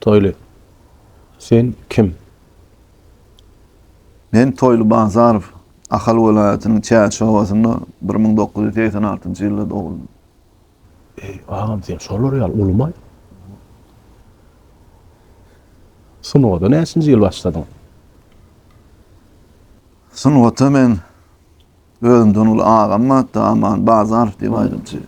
Toýly. Sen kim? Men Toýly Bazarow. Ahal welaýatynyň Çäç obasynda bir müň dokuz ýüz segsen altynjy ýylda doguldy. Eý, agam, sen şolar ýaly ulumaý. Sungata näçinji ýyl başladyň? Sungata men özümden uly agam bar-da, Aman Bazarow diýip aýdymçy.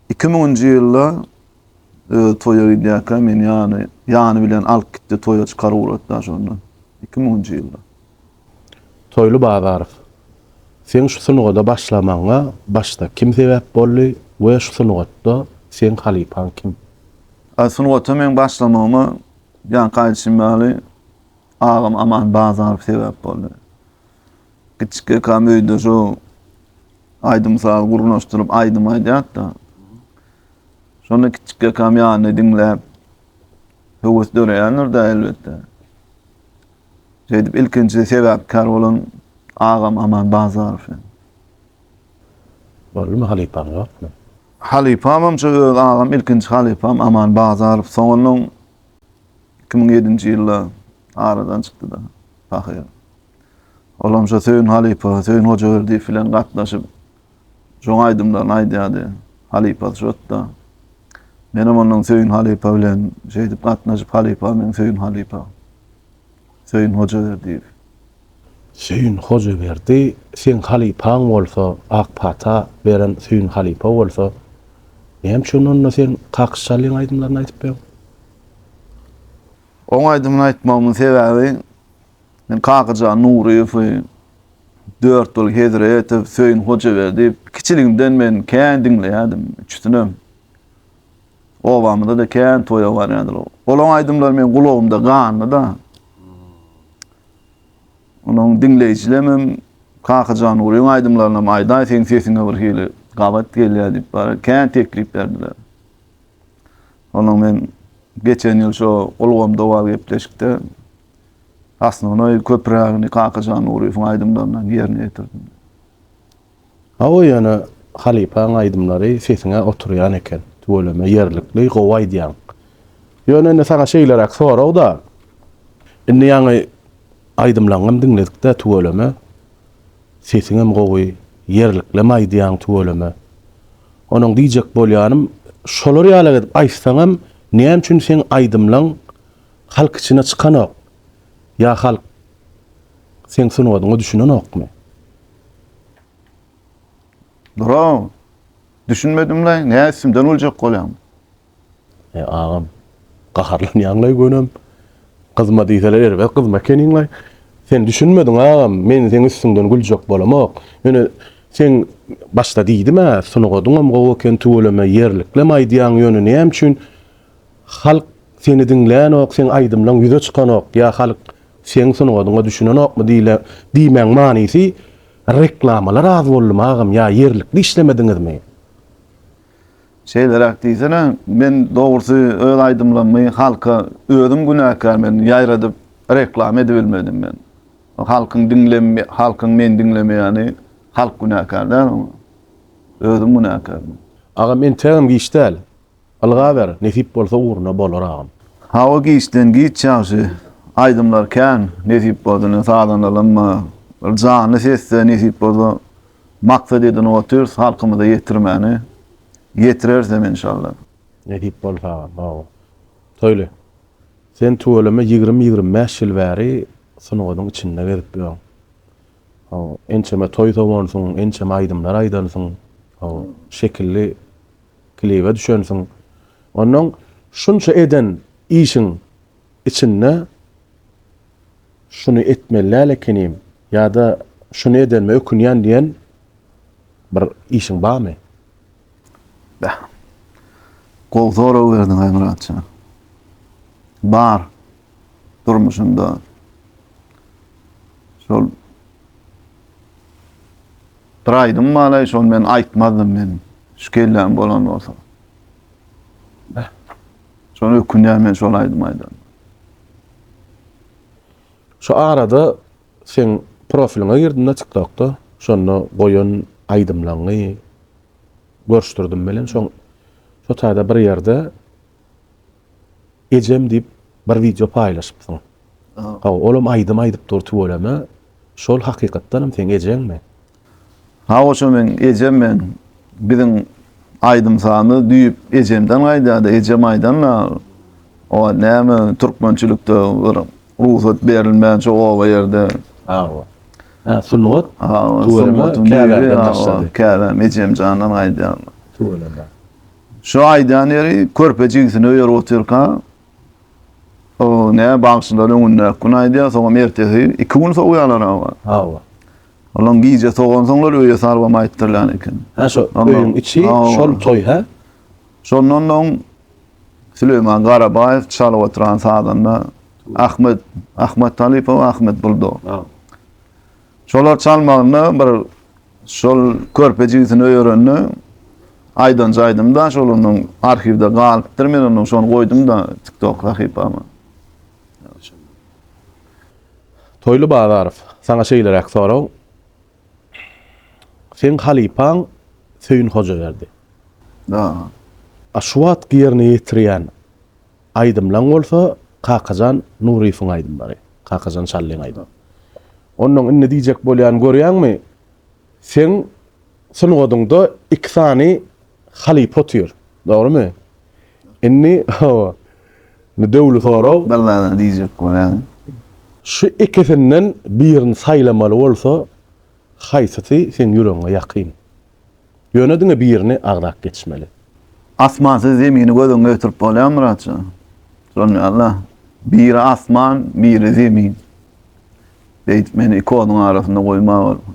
Iki müňünji ýylda özi toýa gidýärkä meni ýany ýany bilen alyp gitdi toýa çykaryp ugratda şonda iki müňünji ýylda. Toýly Bazarow, seň şu sungada başlamagyňa başda kim sebäp boldy we şu sungatda seň halypaň kim? A sungata meň başlamagyma ýaňky aýdyşym ýaly agam Aman Bazarow sebäp boldy. Kiçi kakam öýde şu aýdym-saz gurnaşdyryp aýdym aýdýardy-da. Şonda kiçi kakam ýanynda diňläp höwes döreýändir-de elbetde. Şeýdip ilkinji sebäpkär bolan agam Aman Bazarow. Boldumy halypaň ýokmy? Halypamam şu öz agam ilkinji halypam Aman Bazarow. Soňundan iki müň ýedinji ýylda aradan çykdy-da pahyr. Olam şo Söýün halypa, Söýün Hojaberdiýew bilen gatnaşyp, şoň aýdymlaryny aýdýardy. Halypasy şotda. Menem ondan Söýün halypa bilen şeýdip gatnaşyp, halypa meň Söýün halypa. Söýün Hojaberdiýew. Söýün Hojaberdi seň halypaň bolsa, ak pata beren Söýün halypa bolsa, näme üçin onda sen Kakyş Şalyň aýdymlaryny aýdypýoň? Oň aýdymyny aýtmagymyň sebäbi, Men Kakajan Nuryýewi, Dörtgül Hezretow, Söýün Hojaberdi kiçiligimden men kän diňleýärdim. Üçüsinem obamyzda-da kän toýa barýardylar. Olaryň aýdymlary meniň gulagymda ganly-da. Onuň diňleýjilemem Kakajan Nuryýewiň aýdymlarynam aýdaý seň sesiňe bir hili gabat gelýär diýip bara kän teklip berdiler. Onuň men geçen ýyl şo ulgamda bor gepleşikde Osnonoý köprägini Kakajan Nuryýewiň aýdymlaryndan ýerine ýetirdim. Hawa ýöne halypaň aýdymlary sesiňe oturýan eken, tüweleme ýerlikli gowy aýdýaň. Ýöne indi saňa şeýleräk soragda, indi ýaňy aýdymlaňňam diňledikdä tüweleme sesiňem gowy, ýerliklem aýdýaň tüweleme. Onuň diýjek bolýanym, şolar ýalak edip aýtsaňam näme üçin seň aýdymlaň Halk içine çykanok. Ýa halk seň sungatyňa düşünenokmy? Bro, düşünmedim-laý, nä üstümden güljek bolýaň? E, agam, gaharlanýaň-laý gönem. Gyzma diýseler erbet gyzma ekeniň-laý. Sen düşünmediň, agam, men seň üstüňden güljek bolamok. Ýöne seň başda diýdim-ä, sungatyňam gowy eken, tüweleme ýerliklem aýdýaň, ýöne näme üçin Halk seni diňlänok seň aýdymlaň ýüze çykanok ýa halk seň sungatyňa düşünenokmy diýle diýmäň manysy reklamalar az boldum agam ýa ýerlikli işlemediňizmi. Şeýleräk diýsene men dogrusy öz aýdymlarymy halka özüm günäkär men ýaýradyp reklama edibilmedim men halkyň diňlem halkyň meni diňlemeýäni halk günäkär däl oňa özüm günäkär men. Agam entegem giç däl. Ylgaber, nesip bolsa ugruna bolar agam. Hawa giçden giç ýagşy aýdymlar kän nesip bolsa ine sazanalym bir janly sesde nesip bolsa maksat edinip otyrys halkymyza ýetirmäni ýetirerisem enşalla. Nesip bolsa agam hawa. Toýly. Sen tüweleme ýigrimi ýigrimi bäş ýyl bäri sungatyň içinde gezip ýör. Hawa ençeme toý sowansyň ençeme aýdymlar aýdansyň. Hawa şekilli. klibe düşensiň. Onnoň şunça eden işiň içinde şuny etmeli däl ekenim ýa-da şuny edenime ökünýän diýen bir işiň barmy? Beh. Gowy sorag berdiň-aý Myratjan. Bar. durmuşynda şol bir aýdym balaý şol men aýtmazdym men şu kelläm bolan bolsa. Şol ökünýän men şol aýdym aýdan. Şu arada sen profiliňe girdim-de TikTokda. Şonda goýan aýdymlaryňy görüşdirdim bilen. Şoň şu taýda bir ýerde Ejem diýip bir wideo paýlaşypsyň. Hawa, olam aýdym aýdyp dur tüweleme. Şol hakykatdanam seň ejeňmi? Hawa şo meň ejem meň biziň aýdym sazymyz düýp ejemden gaýdýardy ejem aýdanda oba näme türkmençilikde bir rugsat berilmän şo oba ýerde Hawa. Hä sungat tüweleme käbämden başlady. Käbäm ejemjandan gaýdýardy. Tüweleme. Şu aýdan ýeri körpe jigisini öýerip otyrka, o ne bagşylar öňündäki gün aýdýar, soňam ertesi iki gün sogýarlar hawa. Hawa. Olam gije sogansoňlar öýe salybam aýtdyrýan eken. Hä şo öýüň içi şol toý hä? Şondan soň Süleýman Garabaýew çalyp oturan sazanda Ahmet Ahmet Talypow Ahmet Buldo. Şolar çalmagynda bir şol körpe jigisini öýerende aýdanja aýdymda şol onuň arhiwde galypdyr men onuň şony goýdumda tiktok sahypama. Toýly Bazarow, saňa şeýleräk sorag. Seň halypaň Söýün Hojaberdi. Daa. A şu wagtky ýerine ýetirýän Aýdymlaň bolsa Kakajan Nuryýewiň aýdymlary, Kakajan Şallyň aýdym. Onnoň indi diýjek bolýan görýäňmi, seň sungatyňda iki sany halypa otyr, dogrymy? Indi hawa, indi döwli sorag. Bir zada diýjek bolýan. Şu ikisinden birini saýlamaly bolsa, Haýsysy seň ýüregiňe ýakyn? Ýöne diňe birini agzap geçmeli. Asmansyz zemini göz öňüne getirip bolýarmy Myratjan? Bolmaýar-la. Biri asman, biri zemin. Beýdip meni iki oduň arasynda goýma bolmaz.